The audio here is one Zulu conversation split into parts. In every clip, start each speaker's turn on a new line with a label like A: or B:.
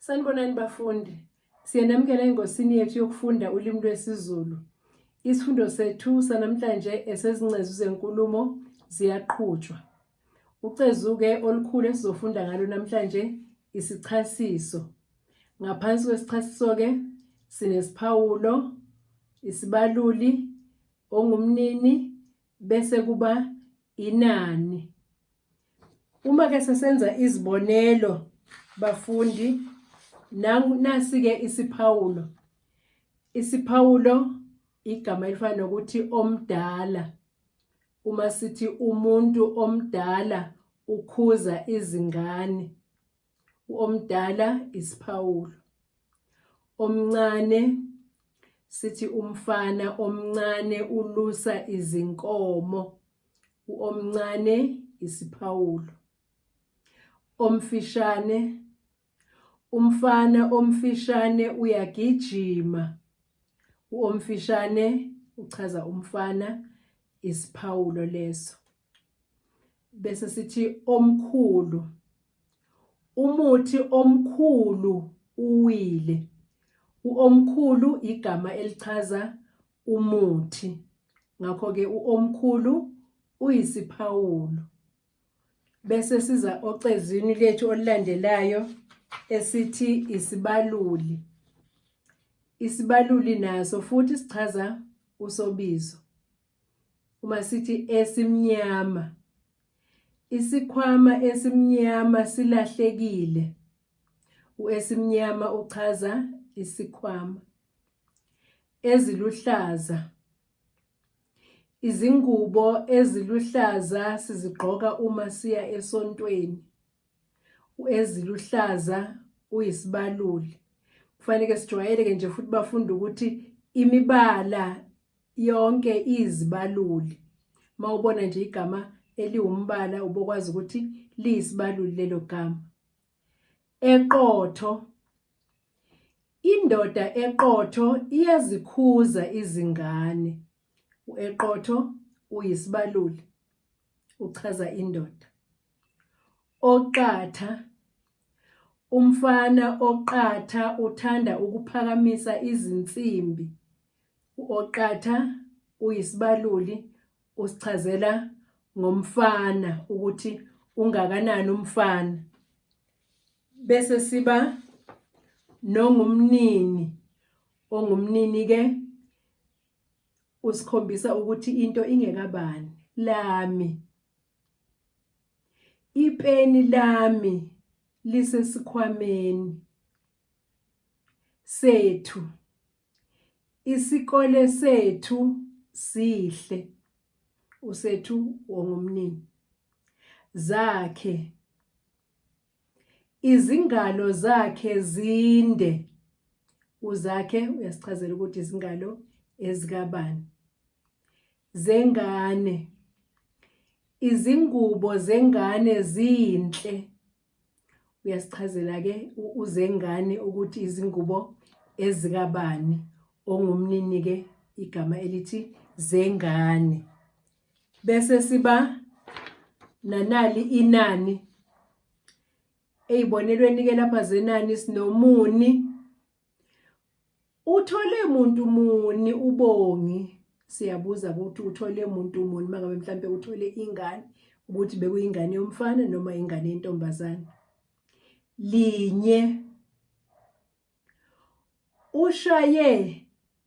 A: Sanibonani bafundi. Siyanamukela engosini yethu yokufunda ulimi lwesiZulu. Isifundo sethu sanamhlanje esezincezu zenkulumo ziyaqhutshwa. Ucezuke olukhulu esizofunda ngalo namhlanje isichasiso. Ngaphansi kwesichasiso ke sinesiphawulo, isibaluli, ongumnini bese kuba inani uma ke sesenza izibonelo bafundi nasi ke isiphawulo isiphawulo igama elifana nokuthi omdala uma sithi umuntu omdala ukhuza izingane Omdala isiphawulo. Omncane sithi umfana omncane ulusa izinkomo. Uomncane isiphawulo. Omfishane umfana omfishane uyagijima. Uomfishane uchaza umfana isiphawulo leso. bese sithi omkhulu umuthi omkhulu uwile uomkhulu igama elichaza umuthi ngakho ke uomkhulu uyisiphawulo bese siza ocezwini lethu olulandelayo esithi isibaluli isibaluli naso futhi sichaza usobizo uma sithi esimnyama isikhwama esimnyama silahlekile uesimnyama uchaza isikhwama eziluhlaza izingubo eziluhlaza sizigqoka uma siya esontweni uEziluhlaza uyisibaluli kufanele sijwayeleke nje futhi bafunde ukuthi imibala yonke izibaluli mawubona nje igama eliwumbala ubokwazi ukuthi liyisibaluli lelo gama eqotho indoda eqotho iyazikhuza izingane ueqotho uyisibaluli uchaza indoda Oqatha, Umfana oqatha uthanda ukuphakamisa izinsimbi. U-Oqatha uyisibaluli usichazela ngomfana ukuthi ungakanani umfana. Bese siba nongumnini, ongumnini-ke usikhombisa ukuthi into ingekabani, lami. Ipeni lami lisesikhwameni sethu. Isikole sethu sihle. Usethu wongumnini. Zakhe. Izingalo zakhe zinde. Uzakhe uyasichazela ukuthi izingalo ezikabani. zengane. Izingubo zengane zinhle. Uyasichazela ke uzengane ukuthi izingubo ezikabani ongumnini ke igama elithi zengane. Bese siba nanali inani eyibonelweni ke lapha zenani sinomuni Uthole muntu muni ubongi siyabuza ukuthi uthole muntu muni mangabe mhlambe uthole ingane ukuthi bekuyingane yomfana noma ingane yentombazane linye ushaye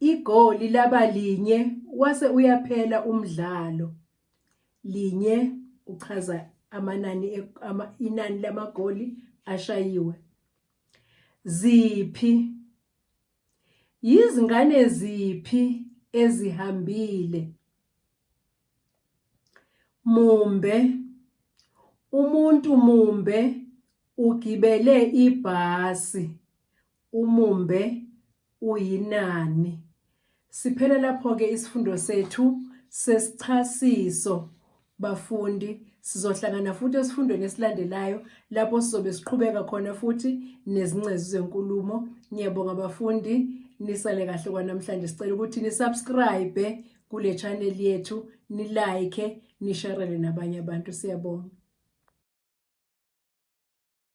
A: igoli laba linye wase uyaphela umdlalo linye uchaza amanani e, ama, inani lamagoli ashayiwe Ziphi? Yizingane ziphi ezihambile? Mumbe. Umuntu mumbe ugibele ibhasi. Umumbe uyinani. Siphele lapho-ke isifundo sethu sesichasiso bafundi sizohlangana futhi esifundweni esilandelayo lapho sizobe siqhubeka khona futhi nezingcezu zenkulumo ngiyabonga bafundi nisale kahle kwanamhlanje sicela ukuthi nisubscribe kule channel yethu nilike nisharele nabanye abantu siyabonga